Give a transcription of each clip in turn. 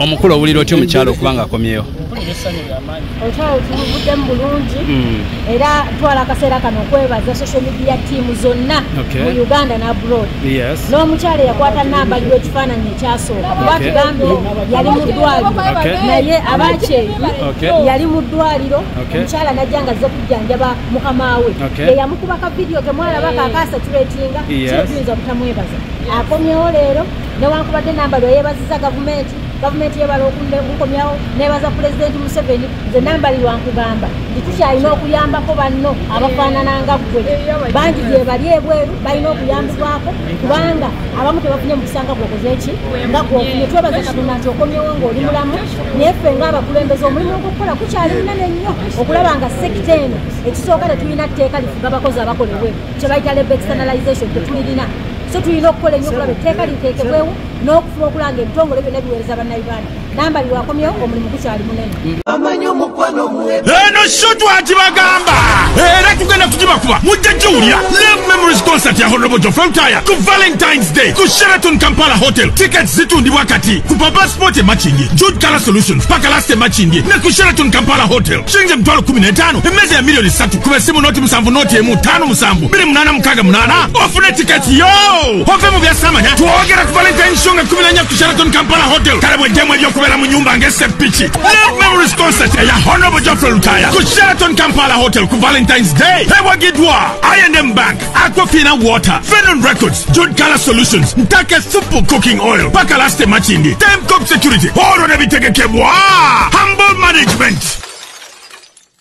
omukulu owulira otya omukyalo okuba nga akomyewo omukyalo tubuvuddemu bulungi hmm. era twala akaseera kano okwebaza social media tiimu zonna mu uganda ne abroad n'omukyalo eyakwata namba liwo ekifaananyi ekyasooka kuba tugambye yali mu ddwaliro naye abakyeyi yali mu ddwaliro omukyala najja nga zze ku janjaba mukamawe okay. eyamukuba ka video kemwalaba hey. kakasa tuletinga yes. kyetuyinza obutamwebaza yes. akomyewo leero newankubadde namba lweyebaziza gavumenti gavumenti yebala okunkomyawo nebaza pulezidenti museveni nze nambalirwa nkugamba nti tukyalina okuyambako banno abafaanana nga ggwe bangi gyebali ebweru balina okuyambibwako kubanga abamu tebafunye mukisanga gwokoze ki nga gwofunye twebaza katonda nti okomyewo ngaoli mulamu naye ffe ngaabakulembeza omulimu ogukukola kukyali munene nnyo okulaba nga sekita eno ekisooka tetulina tteeka lifuga abakozi abakola ebweru kyebayita leba externalization tetulirina so tulina okukola ennyo okulaba etteeka liteekebwewo n'okufuba okulanga ebitongole byonna biweereza bannayuganda namba biwakomyewo omulimu gukyali munene eno sho twakibagamba era tugenda kugibakuba mujja giwulira live memories concert ya honobojo frontire ku valentines day ku sheraton kampala hotel tickets zitundibwa kati ku papa sport emakindye jude color solutions paka last emakindye ne ku sheraton kampala hotel shilingi emitwalo 15 emmeeza ya miliyoni 3 ku besimu noti musanvu noti emu tano musanvu 2868 ofune tickets yo ove mu byasamanya twogera ku valentine show nga 14 ku sheraton kampala hotel kale bwejjemu ebyokubeera mu nyumba ng'esepiki Love Memories Concert ya Honorable Geoffrey Lutaya ku Sheraton Kampala Hotel ku Valentine's Day ewagidwa I&M Bank, Aquafina Water, Venom Records, Jude Color Solutions, Ntake Supu Cooking Oil, Pakalaste Machindi, Temcop Security, Oro ne bitegekebwa Humble Management.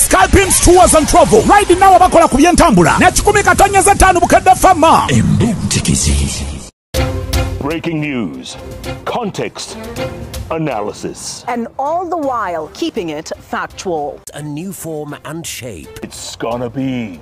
Scalpings Tours and Travel right now abakola ku byentambula ne kikumi katanya za tano bukadde fama embuntikizi Breaking news, context, analysis. And all the while keeping it factual. A new form and shape. It's gonna be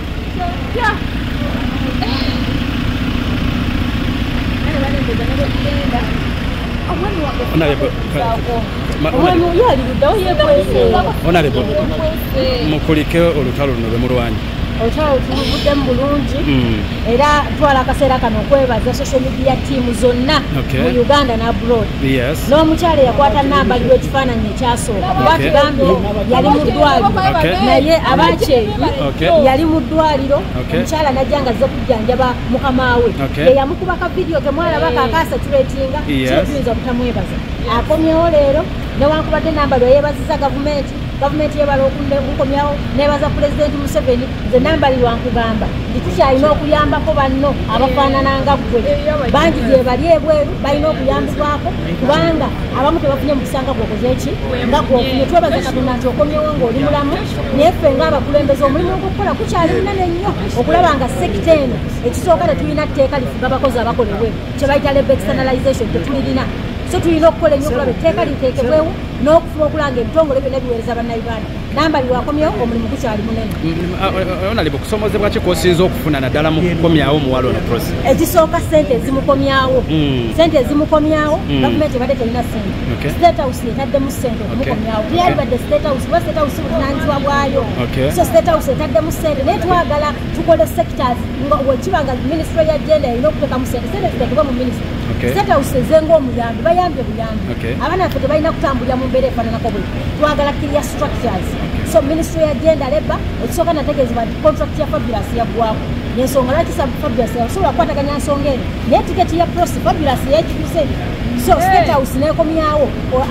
mukulike olutalo luno lwemulwanyi olutalo tuluvuddemu bulungi hmm. era twala akaseera kano okwebaza social media team zonna mu uganda ne abroad n'omukyalo eyakwata namba liwo ekifaananyi ekyasooka kuba tugambye yali mu ddwaliro naye abakyeyo yali mu ddwaliro omukyala najja nga azze kujjanjaba mukamaawe eyamukuba ka vidiyo kemwalaba kakaasa kiretinga kyetuyinza obutamwebaza akomyewo leero newankubadde namba lwe yebaziza gavumenti gavumenti yebala okukomyawo nebaza pulezidenti museveni nze nambalirwankugamba nti tukyalina okuyambako banno abafaanananga ggwe bangi gyebali ebweru balina okuyambibwako kubanga abamu tebafunye mukisanga gwokoze ki nga gwofunye twebaza katonda nti okomyewo ngaoli mulamu naye ffe ngaabakulembeza omulimu ogukukola kukyali munene nnyo okulaba nga sekita eno ekisooka tetulina tteeka lifuga abakozi abakola ebweru kyebayita leba externalization tetulirina so tulina okukola ennyo okulaba etteeka liteekebwewo n'okufuba okulanga ebitongole byonna biweereza bannayuganda namba biwakomyewo omulimu gukyali munene onalib okusomozebwa ki kwosinza okufuna naddala mu kukomyawo omuwala ono prosi ekisooka sente ezimukomyawo hmm. sente ezimukomyawo hmm. gavumenti ebadde terina sente state house etaddemu sente yalibadde statehouse kuba statehouse buvunaanyizibwa bwayo so statehouse etaddemu sente naye twagala tukole sectors nga wekiba nga ministry ya genda erina okutekamu sente sente zitekebwe mu ministry statehouse ezenga omuyambi bayambye buyambi abaana baffe tebalina kutambulira mu mbeera efaananako buli twagala kiria structures so ministry ya genda leba ekisooka nategeezebwa nti contract ya fabulous yaggwamu yensonga lwaki fabulous yasobola kukwataganya nsonga eno naye tiketi ya prosi fabulous yekiuse so statehouse nekomyawo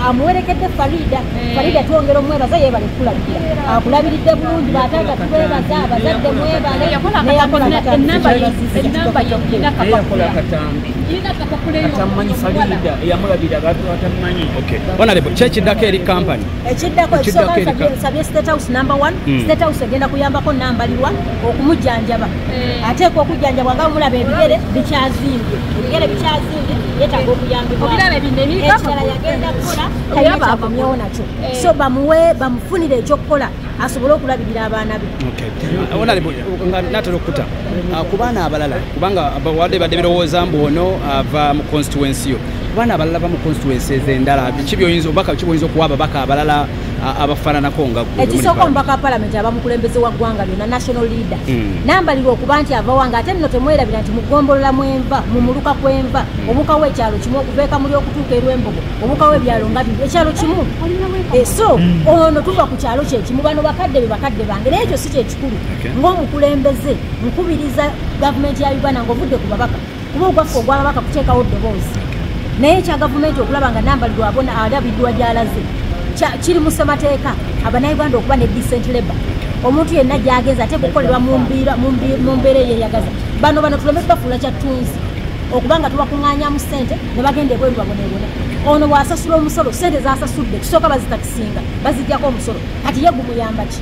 amuwerekedde farida eh. farida twongera omwebaza yebale kukulabirira akulabiridde bulungi bataata twebaza abazadde mwebale kyekiddako eri kampany ekiddako ekisookansabye state house number one hmm. state house egenda kuyambako nambalirwa okumujjanjaba eh. ateekwa okujjanjabwa nga omulaba ebigere bikyazimbye ebigere bikyazi yetaga okuyambibwaekirala yagenda kukola tayekyavamyewo nakyo eh. so bamuwe bamufunire ekyokukola asobole okulabirira abaana be natera okukuta ah, ku baana abalala kubanga wadde badde birowooza mbu ono ava mu constituensi yo ku baana abalala ba mu constituensi ezendala kibyoyinza obubaka kibwoyinza okuwa ababaka abalala abafaananako nga ekisooka omubaka wa palamenti aba mukulembeze wa ggwanga lyona national leader hmm. nambalirwa okuba nti avawa nga ate nno temwerabira nti mugombolola mwenva mu muluka kwenva hmm. obukawo ekyalo kimu okuveeka muli okutuuka erwembogo obukawo ebyalo nga biri ekyalo kimu eh, so hmm. ono tuva ku kyalo kyekimu bano bakadde be bakadde bange naye ekyo si kyekikulu ngaomukulembeze nkubiriza gavumenti ya uganda ngaovudde ku babaka kuba ogwaffe ogwababaka kuteekawo ddoboozi naye ekya gavumenti okulaba nga nambalirwa abona alabidwa gyalaze kiri mu ssemateeka abanauganda okuba ne decent labor omuntu yenna gyagenza ate kukolerwa mu mbeera eyeyagaza bano bano tuleme tubafuula kyattunzi okubanga tubakuŋŋanyamu ssente ne bagenda ebweru babonebone ono bw'asasula omusolo ssente zasasudde tusooka bazitakisinga bazijjako omusolo kati ye gumuyamba ki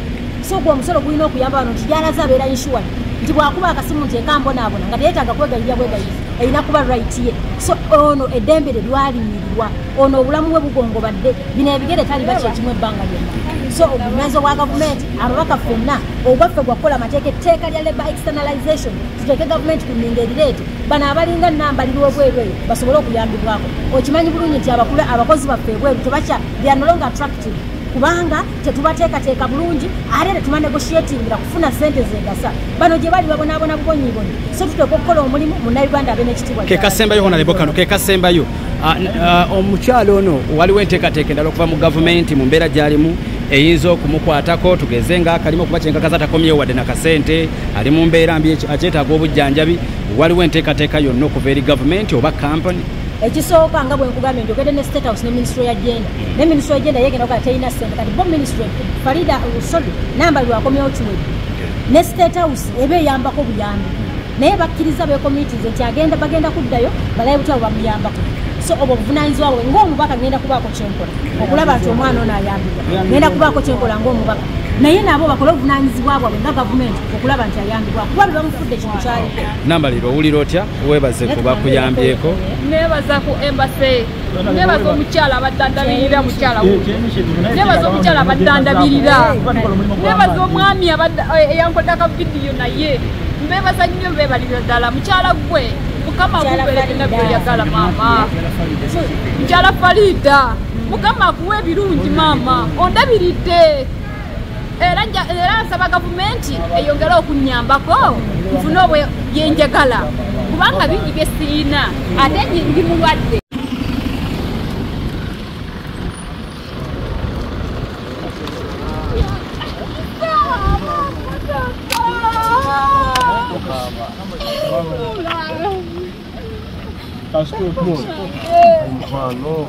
so gwe omusolo gulina okuyamba bano nti gyalaze abeera insuwal nti bwakuba akasimu nti ekambonaabona nga teyetaaga kwegayirira bwegayiri erina kuba right ye so ono eddembe lye lwalimirirwa ono obulamu bwe bugongobadde bino ebigere taliba kyekimu ebbanga lyonna so obumeezi obwa gavumenti ababaka fenna ogwaffe gwakukola amateeka etteeka lya labor externalization tuteeke gavumenti ku nninga erireete bano abalinga nambalirwa obweru eyo basobole okuyambibwako okimanyi bulungi nti abakula abakozi baffe ebweru tebakya they are no longer attractive kubanga tetubateekateeka bulungi ate tetubanegotiatingira kufuna sente zegasa bano gye bali babonaabona bubonyibonyi so tuteeka okukola omulimu munauganda abe nekitibwa kekasembayo honalebo kano kekasembayo ah, ah, omukyalo ono waliwo enteekateeka endala okuva mu gavumenti mu mbeera gyalimu eyinza okumukwatako tugeze nga akalimu okuba kyenkakaza takomyewo wadde nakasente ali mu mbeera mbi akyetaaga obujjanjabi waliwo enteekateeka yonna okuva eri gavumenti oba kampani ekisooka nga bwenkugambye njogedde ne state house ne minisitule ya jenda ne minisitule egenda yegenda ogaa terina sente kati bo minisitule farida sorry namba lwakomyawo kiwedi ne state house eba eyambako buyambi naye bakkiriza bekomitis nti agenda bagenda kuddayo balaye butya bwe bamuyambako so obwo obuvunanyizibwa bwe ngaomubaka ngenda kubaako kyenkola okulaba nti omwana ono ayambibwa ngenda kubaako kyenkola ngaomubaka naye nabo bakole obuvunanyizibwa bwabwe nga gavumenti okulaba nti ayambibwa kuba be bamufudde ekintu kyaliko namba lero owulira otya webaze kubakuyambyeko nebaza ku embase nebaza omukyala abadandabirira mukyala nebaza omukyala abadandabirira nebaza omwami eh, eyankoda ka vidiyo naye mbebaza nnyo bebalira ddala mukyala gwe mukama guberekena byoyagala maama mukyala faliida mukama akuwa ebirungi maama ondabiridde era era nsaba gavumenti eyongere okunyambako nfune obwe byenjagala kubanga bingi bye sirina ate ndi mulwadde Acho que eu tô. Mano.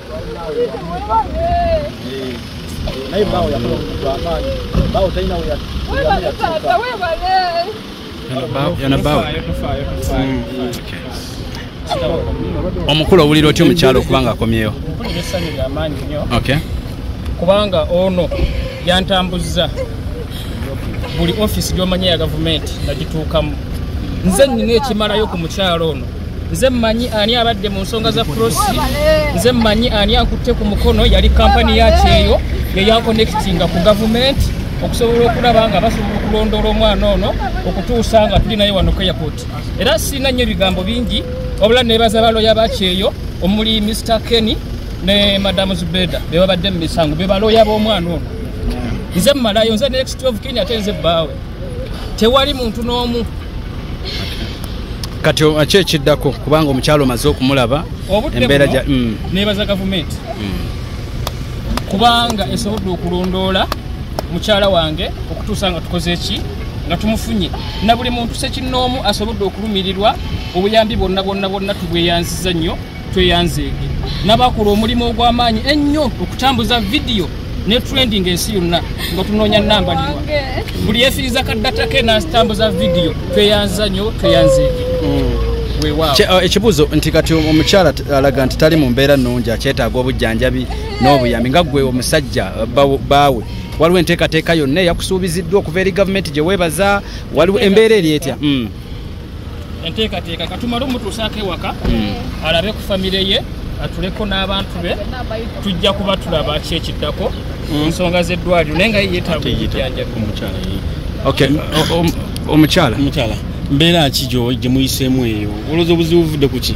naye bawo yakola omuntu amaanyi bawo talina omukulu owulira otya omukyalo okubanga akomyewo kubanga ono yantambuzza buli ofisi gyomanya ya gavumenti nagituukamu nze nina ekimalayo ku mukyalo ono nze mmanyi ani abadde mu nsonga za prosi nze mmanyi ani akutte ku mukono yali kampani ya kyeyo yeyankonekitinga ku gavumenti okusobola okulaba nga basobola okulondoola omwana ono okutuusa nga tuli naye wano keyapoti era sirina nnyo ebigambo bingi wabula nebaza baloya bakyeyo omuli mr kenny ne madamu zubeda bebabadde mu misango bebaloya b'omwana ono nze mumalayo nze next of kenya ate nze bbaawe tewali muntu n'omu kati ki ekiddako kubanga omukyalo omaze okumulaba embeera ja mm. nebaza gavumenti mm. kubanga esobodde okulondoola mukyala wange okutuusa nga tukoze ki nga tumufunye na buli muntu sekinnoomu asobodde okulumirirwa obuyambi bwonna bwonna bwonna tubweyanziza nnyo tweyanzeege nabakola omulimu ogw'amaanyi ennyo okutambuza vidiyo ne trending ensi yonna nga tunoonya nambalirwa buli yefiriza kaddatake natambuza vidiyo tweyanza nyo tweyanzeege mm. Uh, ekibuzo nti kati omukyala alaga nti tali mu mbeera nnungi akyetaaga obujjanjabi n'obuyambi nga gwe omusajja uh, baawe waliwo enteekateeka yonna eyakusuubiziddwa okuva eri gavumenti gye weebaza waliwo embeera eri etya mm. enteekateeka katumale omutuusaako ewaka hmm. alabe ku famire ye atuleko n'abantu be tujja kuba tulaba ki ekiddako hmm. ensonga z'eddwaliro naye nga yeyetaaga obujanjabi omukyala mbeera ki gye muyiseemu eyo olowooza obuzibu buvudde ku ki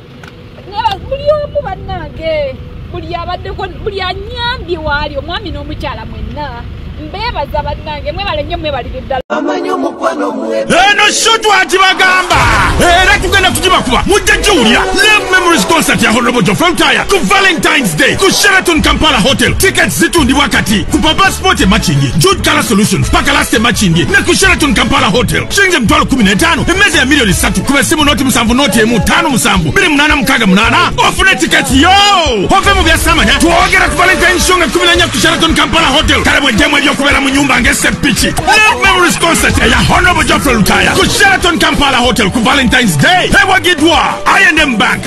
buli omu bannange buli abaddeko buli anyambye waali omwami n'omukyala mwenna mbeebaza bannange mwebale nnyo mwebalire ddala eno sho twakibagamba era tugenda kugibakuba mujja giwulira love memories concert ya honorable jofe lutaya ku valentines day ku sheraton kampala hotel tickets zitundibwa kati ku papa sport emakindye jude color solutions paka last emakindye ne ku sheraton kampala hotel shilingi emitwalo kumi n'etaano emmeza ya miliyoni ssatu ku besimu nooti musanvu nooti emu ttaano musanvu biri munaana mukaaga munaana ofune tiketi yo ove mu byasamanya twogera ku valentine show nga kumi nanya ku sheraton kampala hotel kale bweddemu ebyokubeera mu nyumba ng'eseppiki love memories concert eya honorable geoffrey lutaya ku sheraton kampala hotel ku valentines day ewagiddwa inm bank